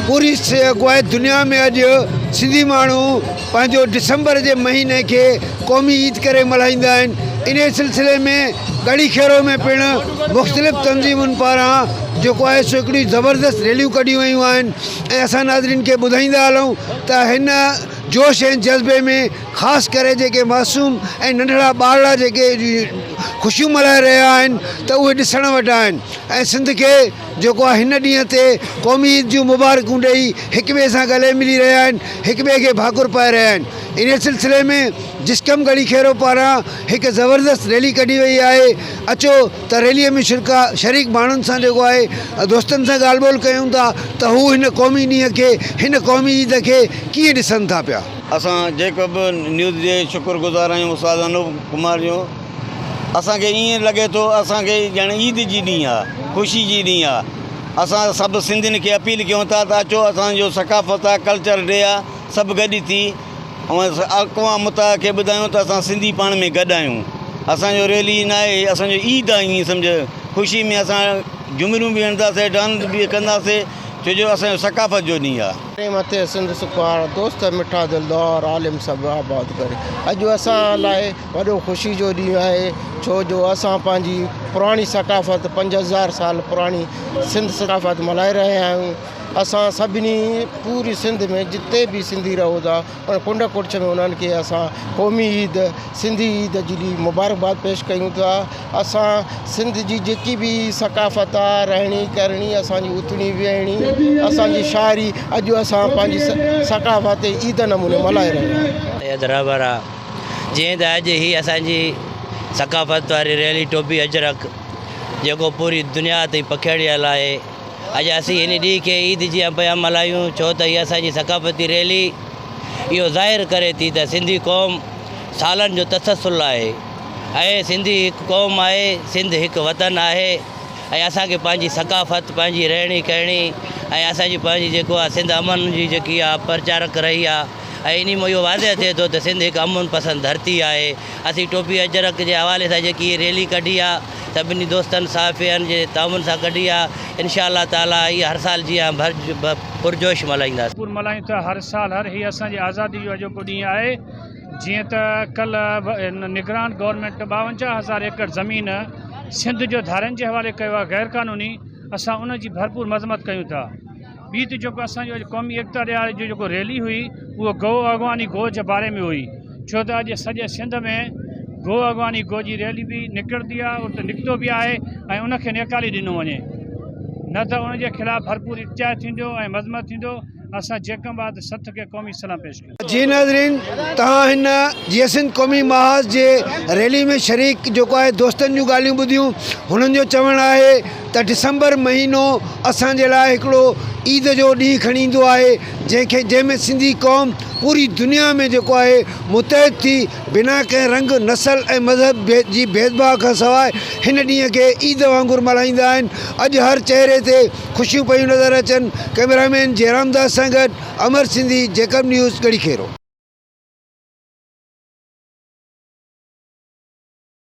پوري اڳوائي دنيا ۾ اڄ سنڌي ماڻهو پنهنجو ڊسمبر جي مهيني کي قومي عيد ڪري ملهائيندا آهن انهي سلسلي ۾ ڳڙهي کيرو ۾ پڻ مختلف تنظيمن پاران جيڪو آهي سو هڪڙيون زبردست ريليون ڪڍيون ويون آهن ۽ اسان ناظرين کي ٻڌائيندا هلون ته هن جوش ۽ جذبي ۾ خاص ڪري جيڪي معصوم ۽ ننڍڙا ٻارڙا جيڪي خوشيون ملهائي رهيا آهن ته اهي ڏسڻ وٽان آهن ۽ سنڌ کي جيڪو آء هن ڏينهن تي قومي عيد جون مبارڪون ڏئي هڪ ٻئي سان ڳلي ملي رهيا آهن، هڪ ٻئي کي ڀاڪر پائي رهيا آهن. انهي سلسلي ۾ جسقم ڳڙهي کيرو پاران هڪ زبردست ريلي ڪڍي وئي آهي، اچو ته ريلي ۾ شرڪا شريڪ ماڻهن سان جيڪو آهي دوستن سان ڳالهه ٻولهه ڪيون ٿا ته هو هن قومي ڏينهن کي هن قومي عيد کي ڪيئن ڏسن ٿا پيا. اسان جيڪب نيوز جي شڪر گذار آهيون استاد انوپ ڪمار جو. اسان کي ائين لڳي ٿو اسان کي ڄڻ عيد جي ڏينهن آ خوشي جي ڏينهن آ اسان سڀ سنڌين کي اپيل ڪيون ٿا ته اچو اسان جو ثقافت آ ڪلچر ڊي آ سڀ گڏ ٿي اقوام متحده کي ٻڌايون ته اسان سنڌي پاڻ ۾ گڏ آهيون اسان جو ريلي نه آهي اسان جو عيد آ ائين سمجهه خوشي ۾ اسان جهمريون به هڻنداسين ڊانس به ڪنداسين ڇو جو اسان جو ثقافت جو ڏينهن آ. ڪري مٿي سنڌ سکوار دوست مٺا دلدار عالم سڀ آباد ڪري اڄ اسان لاء وڏو خوشي جو ڏينهن آهي ڇو جو اسان پنهنجي پراڻي ثقافت پنج هزار سال پراڻي سنڌ ثقافت ملهائي رهيا آهيون اسان سڀني پوري سنڌ ۾ جتي به سنڌي رهو ٿا ان ڪنڊ ڪڙڇ ۾ انهن کي اسان قومي عيد سنڌي عيد جي ڏي مبارڪباد پيش ڪيون ٿا اسان سنڌ جي جيڪي به ثقافت آ رهڻي ڪرڻي اسانجي اٿڻي ويهڻي اسانجي شاعري اڄ اسان پنهنجي ثقافت عيد نموني ملهائي رهيا آهيون. اڄ حيدرآباد جيئن ته اڄ هي اسان جي ثقافت واري ريلي ٽوپي اجرڪ جيڪو پوري دنيا تائين پکيڙيل آهي اڄ اسين ان ڏينهن کي عيد جيان پيا ملهايون ڇو ته هي اسان جي ثقافتي ريلي اهو ظاهر ڪري ٿي ته سنڌي قوم سالن جو تسلسل آهي ۽ سنڌي هڪ قوم آهي سنڌ هڪ وطن آهي ۽ اسان کي پنهنجي ثقافت پنهنجي رهڻي ڪهڻي ۽ اسان جي پنهنجي جيڪو آهي سنڌ امن جي جيڪي آهي پرچارڪ رهي آهي ۽ انهي مان اهو واضح ٿئي ٿو ته سنڌ هڪ امن پسند ڌرتي آهي. اسين ٽوپي اجرڪ جي حوالي سان جيڪي هيء ريلي ڪڍي آهي، سڀني دوستن صحافين جي تعاون سان ڪڍي آهي، انشاء الله تعاليٰ اها هر سال جيان پرجوش ملهائينداسين. پور ملهايون ٿا هر سال هر هي اسان جي آزادي جو اڄوڪو ڏينهن آهي جيئن ته ڪلهه نگران گورنمينٽ ٻاونجاهه هزار ايڪڙ زمين سنڌ جو ڌارين جي حوالي ڪيو آهي غيرقانوني اسان ان جي ڀرپور مذمت ڪيون ٿا. ٻي ته جيڪو اسان جو اڄ قومي ايڪتا ڏهاڙي جو جيڪو ريلي هئي اهو گو اڳواڻي گو جي باري ۾ هئي ڇو ته اڄ سڄي سنڌ ۾ گو اڳواڻي گو جي ريلي به نڪرندي آهي ات نڪتو به آهي ۽ ان کي نيڪالي ڏنو وڃي نه ته ان جي خلاف ڀرپور اختيار ٿيندو ۽ مذمت ٿيندو اسان جيڪم بعد سٿ کي قومي سلام پيش جي ناظرين توهان هن جيئي سنڌ قومي محاذ جي ريلي ۾ شريڪ جيڪو آهي دوستن جون ڳالهيون ٻڌيون هنن جو چوڻ آهي ته ڊسمبر مهينو اسان جي لاء هڪڙو عيد جو ڏينهن کڻي ايندو آهي جنهن کي جنهن ۾ سنڌي قوم پوري دنيا ۾ جيڪو آهي متحد ٿي بنا ڪنهن رنگ نسل ۽ مذهب جي ڀيد ڀاء کان سواء هن ڏينهن کي عيد وانگر ملهائيندا آهن اڄ هر چهري تي خوشيون پيون نظر اچن ڪئميرا مين جيرام داس سان گڏ امر سنڌي، جيڪب نيوز، ڳڙهي کيرو.